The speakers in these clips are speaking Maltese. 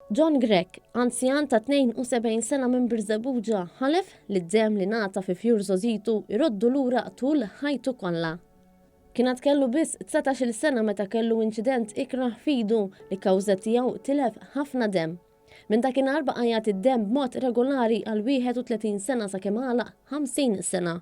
John Grech, anzjan ta' 72 sena minn Birżebbuġa, ħalef li d-demm li ngħata fi fjur żogħżitu jroddu lura tul ħajtu kollha. Kien għad kellu biss 19-il sena meta kellu inċident ikrah f'idu li kawża tiegħu tilef ħafna demm. Minn dakinhar baqa' jagħti d-demm b'mod regolari għal 31 sena sakemm għalaq 50 sena.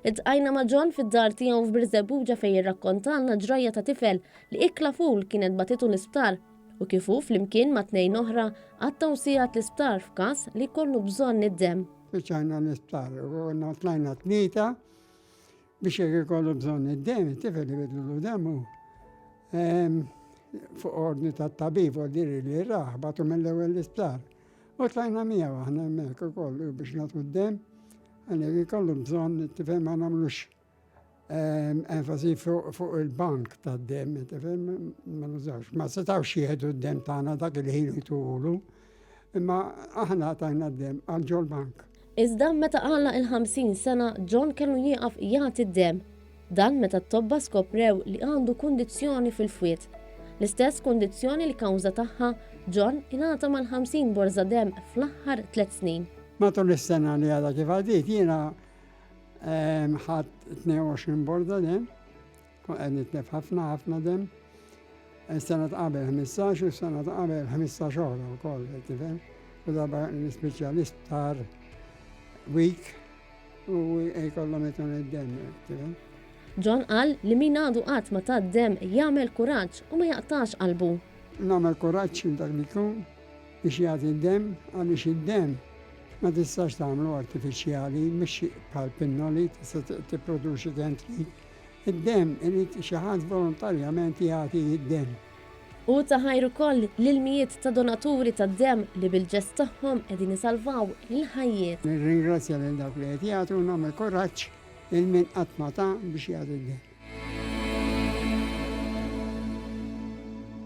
Iltqajna ma' John fid-dar tiegħu f'Birżebbuġa fejn irrakkontalna ġrajja ta' tifel li ikla ful kienet bagħtitu l-isptar u kif hu flimkien ma' tnejn oħra qattgħu sigħat l-isptar f'każ li jkollu bżonn id-demm. Spiċċajna l-isptar u konna tlajna tlieta biex jekk ikollu bżonn id-demm, it-tifel ibidlulu demmu. Fuq ordni tat-tabib u l-diri li rah bagħtu mill-ewwel l-isptar. U tlajna miegħu aħna hemmhekk ukoll biex nagħtu d-demm, għalhekk ikollu bżonn tifhem ma nagħmlux ehm, enfasi fuq il-bank tad-demm, tifhem ma nużawx. Ma setgħux jieħdu d-demm tagħna dak il-ħin jtulu, imma aħna tajna d-demm għal ġol bank. Iżda meta għalaq il-50 sena, John kellu jieqaf jagħti d-demm. Dan meta t-tobba skoprew li għandu kundizzjoni fil-fwied. L-istess kundizzjoni li kawża tagħha, John ingħata mal-50 borża demm fl-aħħar tliet snin. Matul is-sena li għadha kif għaddiet jiena ħadt 22 borża demm. Kont qed nitlef ħafna ħafna demm. Is-sena ta' qabel ħmistax u s-sena ta' qabel ħmistax oħra wkoll, qed tifhem. U darba l-ispiċċa l-isptar week u jkollhom itun id-demm, qed tifhem. John qal li min għadu qatt ma ta d-demm jagħmel kuraġġ u ma jaqtax qalbu. Nagħmel kuraġġ minn dak li jkun biex jagħti d-demm għaliex id-demm ma tistax tagħmlu artifiċjali, mhux bħal pinnoli tista' tipproduċi kemm trid Id-demm irid xi ħadd volontarjament jagħti d-demm. Hu ta ħajr ukoll lill-mijiet ta' donaturi tad-demm li bil-ġest tagħhom qegħdin isalvaw il-ħajjiet. Nirringrazzja lil dawk li qed jagħtu u nagħmel kuraġġ lil min qatt ma ta biex jagħti d-demm.